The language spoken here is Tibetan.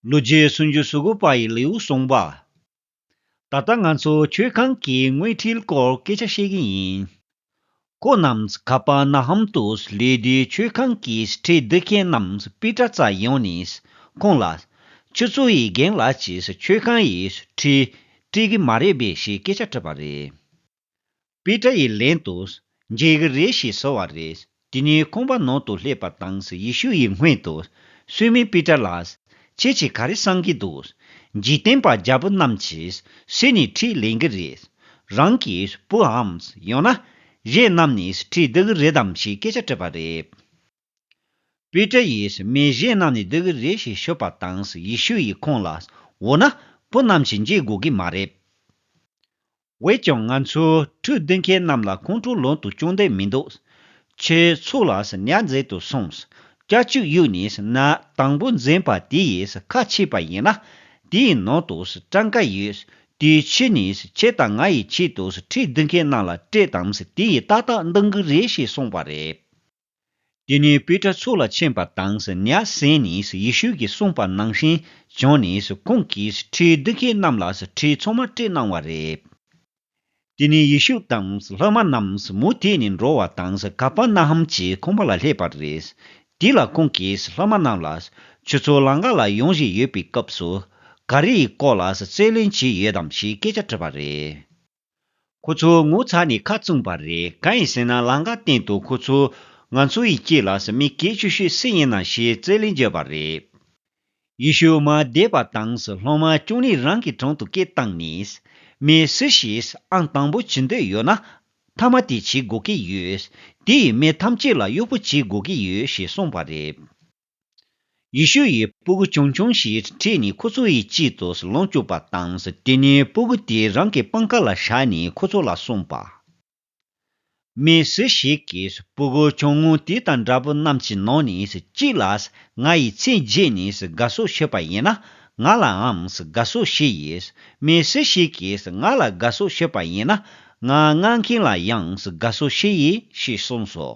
ལོ་རྒྱུས་སུན་འབྱིན་སུ་དགོས་པ་ཡི་ལེའུ་གསུངས་པ། ད་ལྟ་ང་ཚོ་ཆོས་ཁང་གི་དངོས་ཁྲིད་སྐོར་སྐད་ཆ་བཤད་གི་ཡིན། ཁོ་རྣམས་ག་པར་ན་ཧམ་དུ་སླེབས་དུས་ཆོས་ཁང་གི་ཁྲིད་བསྡུ་མཁན་རྣམས་པི་ཏྲ་ཙཱ་ཡོང་ནས་ཁོང་ལ། ཁྱོད་ཚོ་ཡི་རྒན་ལགས་ཀྱིས་ཆོས་ཁང་ཡི་ཁྲིད་བཀྲིས་གི་མ་རེད་པས་ཞེས་སྐད་ཆ་དྲིས་པ་རེད། པི་ཏྲ་ཡི་ལན་དུ། མཇལ་གི་རེད་ཞེས་ཟེར་བ་རེད། དེ་ནས་ཁོང་པ་ནང་དུ་སླེབས་པ་དང་ཡེ་ཤུ་ཡི་སྔོན་དུ། སུས་མིན་པི་ཏྲ་ལགས། ཁྱེད་ཀྱིས་ག་རེ་གསང་གི་འདུག། འཇིག་རྟེན་པ་རྒྱ་བོད་རྣམས་ཀྱིས་སུས་ནི་ཁྲིད་ལེན་གི་རེད། རང་གི་བུའམ། ཡང་ན། གཞན་རྣམས་ནས་ཁྲིད་བསྡུ་གི་རེད་དམ་ཞེས་སྐད་ཆ་དྲིས་པ་རེད། པེ་ཏྲ་ཡིས་མི་གཞན་རྣམས་ནས་འདི་གི་རེད་ཞེས་ཤོད་པ་དང་ཡེ་ཤུ་ཡིས་ཁོང་ལ། འོ་ན། བུ་རྣམས་ཀྱིས་འཇལ་དགོས་གི་མ་རེད། འོས་ཀྱང་ང་ཚོས་ཁྲུས་བསྡུ་མཁན་རྣམས་ལ་ཁོང་ཁྲོ་ལོན་དུ་ཅུང་བསྡད་མི་འདུག། ཁྱོད་ཚོ་ལ་ཉར་མཛད་དུ་སོང། སྐྱ་ཆུ་གཡུག་ནས་ན་དང་པོ་འཛིན་པ་དེ་ཡིས་ཁ་ཕྱེས་པ་ཡིན་ན། དེའི་ནང་དུ་སྐྲངས་ཀ་ཡོད། དེའི་ཕྱི་ནས་ཁྱེད་དང་ང་ཡི་ཆེད་དུ་ཁྲུས་བསྡུ་མཁན་རྣམས་ལ་སྤྲད་དམ་དེ་ཡིས་ཏག་ཏག་འདང་གི་རེད་ཞེས་གསུངས་པ་རེད། དེ་ནས་པི་ཏྲ་ཚུར་ལ་མཆན་པ་དང་ཉྭ་གསན་ནས་ཡེ་ཤུ་གིས་གསུངས་པ་ནང་བཞིན་བྱོན་ནས་ཁོང་གིས་ཁྲིའི་རྡུལ་སྐྱེས་རྣམས་ལ་ཁྲིའི་མཚོ་མ་སྤྲད་གནང་བ་རེད། དེ་ནས་ཡེ་ཤུ་དང་སློབ་མ་རྣམས་མུ་མཐུད་ནས་འགྲོ་བ་དང་ཀ་པར་ན་ཧམ་གྱི་ཁང་པ་ལ་སླེབས་པ་རེད། དེ་ལ་ཁོང་གིས་སློབ་མ་རྣམས་ལ། ཁྱོད་ཚོ་ལང་ཀ་ལ་ཡོང་བཞིན་ཡོད་པའི་སྐབས་སུ། ག་རེའི་སྐོར་ལ་རྩོད་གླེང་བྱས་ཡོད་དམ་ཞེས་སྐད་ཆ་དྲིས་པ་རེད། ཁོ་ཚོའི་ངོ་ཚ་ནི་ཁ་བཙུམས་པ་རེད་གང་ཡིན་ཟེར་ན་ལང་ཀ་སྟེང་དུ་ཁོ་ཚོས། ང་ཚོ་ཡི་སྐྱིད་ལགས་སུ་མི་སྐད་ཤུ་ཤུ་སི་ཡིན་ནམ་ཞེས་རྩེད་ལེན་བརྗོད་པ་རེད། ཡེ་ཤུ་མ་འདས་པ་དང་སློབ་མ་བཅུ་གཉིས་རང་གི་དྲུང་དུ་སྐད་བཏང་ནས། མི་སུ་ཞིག་ཨང་དང་པོ་བྱེད་འདོད་ཡོད་ན། མཐའ་མ་དེ་བྱེད་དགོས་ཀྱི་ཡོད། དེ་ཡིས་མི་ཐམས་ཅད་ལ་གཡོག་པོ་བྱེད་དགོས་ཀྱི་ཡོད་ཞེས་གསུངས་པ་རེད། ཡེ་ཤུ་ཡིས་སྤུ་གུ་ཆུང་ཆུང་ཞིག་ཁྲིད་ནས་ཁོ་ཚོ་ཡི་དཔྱིད་དུ་ལོངས་སྤྱོད་པ་དང། དེ་ནས་སྤུ་གུ་དེ་རང་གི་པང་ཁ་ལ་བཞག་ནས་ཁོ་ཚོ་ལ་གསུངས་པ། མི་སུ་ཞིག་གིས་སྤུ་གུ་ཆུང་ངུ་དེ་དང་འདྲ་པོ་རྣམས་ཀྱི་ནང་ནས་གཅིག་ལ་ང་ཡི་ཚེ་རྗེས་ནས་དགའ་བསུ་ཞུས་པ་ཡིན་ན། ང་ལའང་དགའ་བསུ་ཞུ་ཡི། མི་སུ་ཞིག་གིས་ང་ལ་དགའ་བསུ་ཞུས་པ་ཡིན་ན། ང་མངགས་མཁན་ལ་ཡང་དགའ་བསུ་ཞུ་ཡི་ཞེས་གསུངས་སོ།